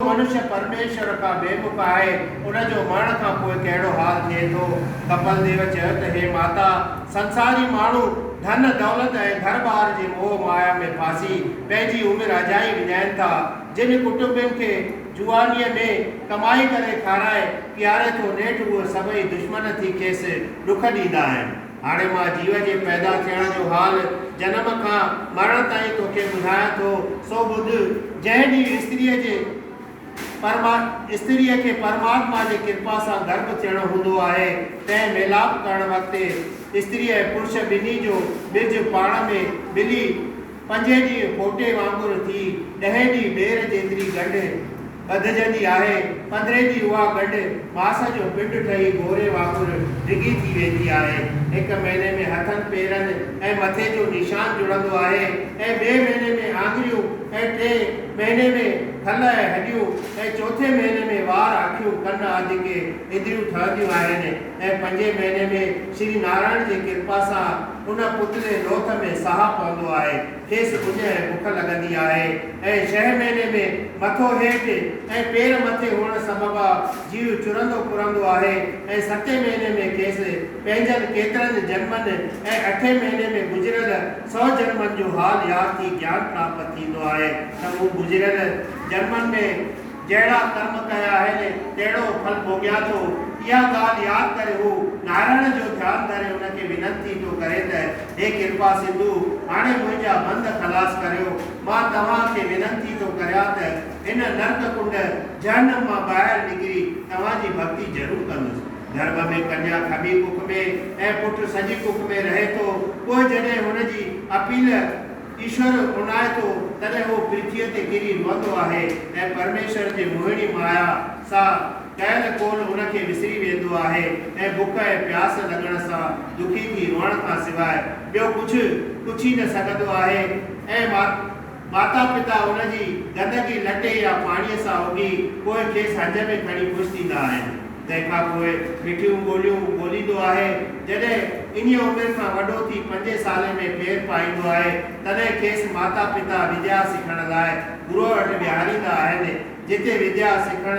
منش پرميشور کان بيمک آهي، ان جو مرڻ کان پوء ڪهڙو حال ٿئي ٿو؟ ڪپل ديو چيو ته هي ماتا! سنساري ماڻهو ڌن دولت ۽ گهر ٻار جي موهه مايا ۾ ڦاسي پنهنجي عمر اجائي وڃائين ٿا. جن ڪٽنبين کي جوانيء ۾ ڪمائي ڪري کارائي پياري ٿو نيٺ اهي سڀئي دشمن ٿي کيس ڏک ڏيندا آهن. هاڻي مان جيو جي پيدا ٿيڻ جو حال، جنم کان مرڻ تائين توکي ٻڌايان ٿو، سو ٻڌ، جنهن ڏينهن استريء جي پرما استريء کي پرماتما جي ڪرپا سان گرڀ ٿيڻو هوندو آهي، تنهن ميلاپ ڪرڻ وقت استريء ۽ پرش ٻنهي جو ٻج پاڻ ۾ ملي پنجين ڏينهن ڦوٽي وانگر ٿي ڏهين ڏينهن ٻير جيتري ڳنڍ ٻڌجندي آهي، پڌري جي اها ڳنڍ ماس جو پنڊ ٺهي گوري وانگر ڊگهي ٿي ويندي آهي. هڪ مهيني ۾ هٿن، پيرن ۽ مٿي جو نشان جڙندو آهي ۽ ٻئي مهيني ۾ آڱريون ۽ ٽئين مهيني ۾ کل ۽ هڏيون ۽ چوٿين مهيني ۾ وار، اکيون، ڪن آدي ڪي اندريون ٺهنديون آهن ۽ پنجين مهيني ۾ شري نارائڻ جي ڪرپا سان ان پتلي لوٿ ۾ ساهه پوندو آهي. کيس اڃ بک لڳندي آهي ۽ ڇهه مهيني ۾ مٿو هيٺ ۽ پير مٿي هئڻ سببا جيو چرندو پرندو آهي ۽ ستين مهيني ۾ کيس پنهنجن ڪيترن جنمن ۽ اٺين مهيني ۾ گذريل سؤ جنمن جو حال ياد ٿي گيان پراپت ٿيندو آهي ته مون گذريل جنمن ۾ جهڙا ڪرم ڪيا آهن، تهڙو ڦل ڀوڳيان ٿو. اها ڳالهه ياد ڪري هو نارائڻ جو ڌيان ڌري ان کي ونتي ٿو ڪري ته، هي ڪرپا سنڌو، هاڻي منهنجا بند خلاص ڪريو. مان توهان کي ونتي ٿو ڪريان ته، هن نرڪ ڪنڊ، جهنم، مان ٻاهر نڪري توهان جي ڀڳتي ضرور ڪندس. گرڀ ۾ ڪنيا کٻي ڪک ۾ ۽ پٽ سڄي ڪک ۾ رهي ٿو، پوء جڏهن هن جي اپيل، ايشور اونداهي ٿو، تڏهن هو پرٿيء تي ڪري روئندو آهي ۽ پرميشور جي موهڻي مايا سان ڪيل قول ان کي وسري ويندو آهي ۽ بک ۽ پياس لڳڻ سان دکي ٿي روئڻ کان سواء ٻيو ڪجهه پڇي نه سگهندو آهي ۽ ماتا پتا ان جي گندگي لٽي يا پاڻيء سان اگهي پوء کيس هنج ۾ کڻي خوش ٿيندا آهن. تنهن کان پوء مٺيون ٻوليون ٻوليندو آهي. جڏهن انهيء عمر کان وڏو ٿي پنجين سالين ۾ پير پائيندو آهي، تڏهن کيس ماتا پتا وديا سکڻ لاء گروء وٽ ويهاريندا آهن، جتي وديا سکڻ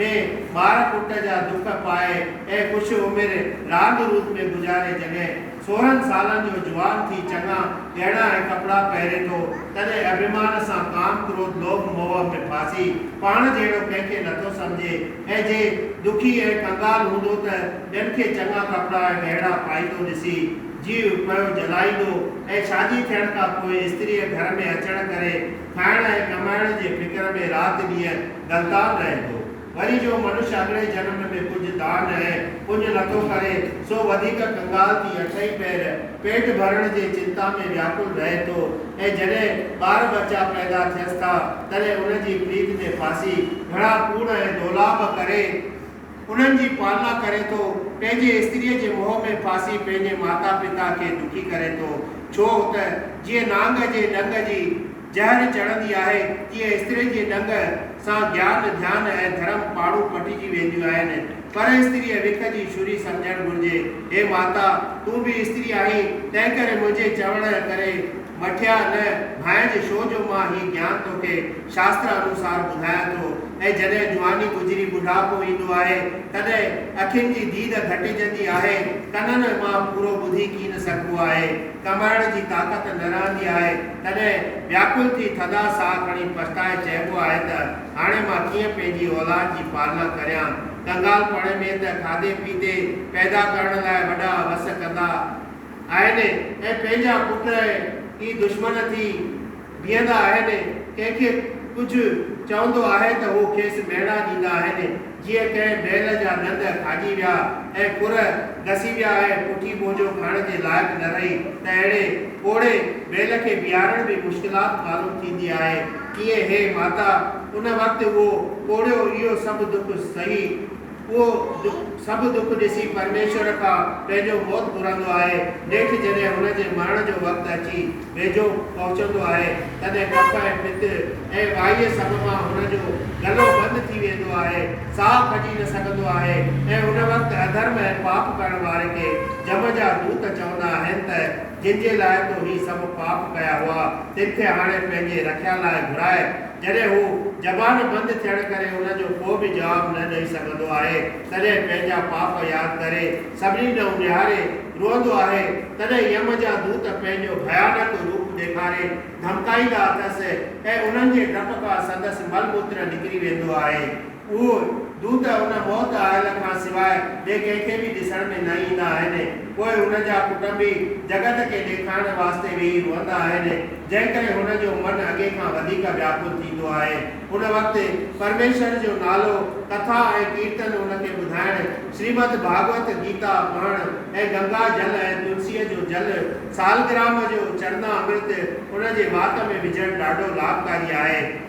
۾ ٻار پٽ جا دک پائي ۽ ڪجهه عمر راند روند ۾ گذاري جڏهن سورهن سالن جو جوان ٿي چڱا ڳهڻا ۽ ڪپڙا پهري ٿو، تڏهن اڀيمان سان ڪام ڪروڌ لوڀ موهه ۾ ڦاسي پاڻ جهڙو ڪنهن کي نٿو سمجهي، ۽ جي ڏکي ۽ ڪنگال هوندو ته ٻين کي چڱا ڪپڙا ۽ ڳهڻا پائيندو ڏسي، جيو پيو جلائيندو ۽ شادي ٿيڻ کان پوء استريء گهر ۾ اچڻ ڪري کائڻ ۽ ڪمائڻ جي فڪر ۾ رات ڏينهن غلطان رهندو. وري جو منش اڳڙي جنم ۾ ڪجهه دان ۽ پڃ نٿو ڪري، سو وڌيڪ ڪنگال ٿي اٺئي پهر پيٽ ڀرڻ جي چنتا ۾ وياڪل رهي ٿو، ۽ جڏهن ٻار ٻچا پيدا ٿيس ٿا تڏهن انهن جي پريت تي ڦاسي گهڻا ڪوڙ ۽ دولاب ڪري انهن جي پالنا ڪري ٿو، پنهنجي استريء جي موهه ۾ ڦاسي پنهنجي ماتا پتا کي دکي ڪري ٿو، ڇو ته جيئن نانگ جي ڏنگ جي جهر چڙهندي آهي تيئن استرين جي ڏنگ سان گيان، ڌيان ۽ ڌرم پاڙون پٽجي وينديون آهن، پرستريء وک جي شري سمجهڻ گهرجي. هي ماتا! تون به استري آهين، تنهنڪري منهنجي چوڻ ڪري مٺيا نه ڀانئج، شو جو مان هي گيان توکي شاستر انوسار ٻڌايان ٿو ۽ جڏهن جواني گذري ٻڍاپو ايندو آهي، تڏهن اکين جي ديد گهٽجندي آهي، ڪنن مان پورو ٻڌي ڪين سگهبو آهي، ڪمائڻ جي طاقت نه رهندي آهي، تڏهن وياڪل ٿي ٿڌا ساهه کڻي پڇتائي چئبو آهي ته هاڻي مان ڪيئن پنهنجي اولاد جي پالنا ڪريان؟ ڳالهه پاڻي ۾ ته کاڌي پيتي پيدا ڪرڻ لاء وڏا وس ڪندا آهن ۽ پنهنجا پٽ ائين ئي دشمن ٿي بيهندا آهن. ڪنهن کي ڪجهه چوندو آهي ته هو کيس ميڻا ڏيندا آهن جيئن ڪنهن بيل جا ڏند کاڄي ويا ۽ کر گسي ويا ۽ پٺي ٻوجهو کڻڻ جي لائق نه رهي ته اهڙي پوڙهي بيل کي بيهارڻ به مشڪلات معلوم ٿيندي آهي. ڪيئي هي ماتا، ان وقت اهو پوڙهيو اهو سڀ دک سهي، اهو سڀ دک ڏسي پرميشور کان پنهنجو موت گهرندو آهي، نيٺ جڏهن هن جي مرڻ جو وقت اچي ويجهو پهچندو آهي، تڏهن ڪف ۽ پت ۽ وائيء سڀ مان هن جو گلو بند ٿي ويندو آهي، ساهه کڄي نه سگهندو آهي ۽ ان وقت اڌرم ۽ پاپ ڪرڻ واري کي جم جا دوت چوندا آهن ته. جن جي لاء تو هي سڀ پاپ ڪيا هئا، تن کي هاڻي پنهنجي رکيا لاء گهرائي. جڏهن هو زبان بند ٿيڻ ڪري ان جو ڪو به جواب نه ڏئي سگهندو آهي، تڏهن پنهنجا پاپ ياد ڪري، سڀني ڏانهن نهاري روئندو آهي، تڏهن يم جا دوت پنهنجو ڀيانڪ روپ ڏيکاري ڌمڪائيندا اٿس ۽ انهن جي ڊپ کان سندس مل موتر نڪري ويندو آهي. اهو دود ان موت آيل کان سواء ٻئي ڪنهن کي به ڏسڻ ۾ نه ايندا آهن. پوء هن جا ڪٽنبي جڳت کي ڏيکارڻ واسطي ويهي روئندا آهن، جنهن ڪري هن جو من اڳي کان وڌيڪ وياڪل ٿيندو آهي. ان وقت پرميشور جو نالو، ڪٿا ۽ ڪيرتن ان کي ٻڌائڻ، شريمد ڀاڳوت، گيتا پڙهڻ ۽ گنگا جل ۽ تلسيء جو جل، سالگرام جو چرنا امرت ان جي وات ۾ وجهڻ ڏاڍو لاڀڪاري آهي.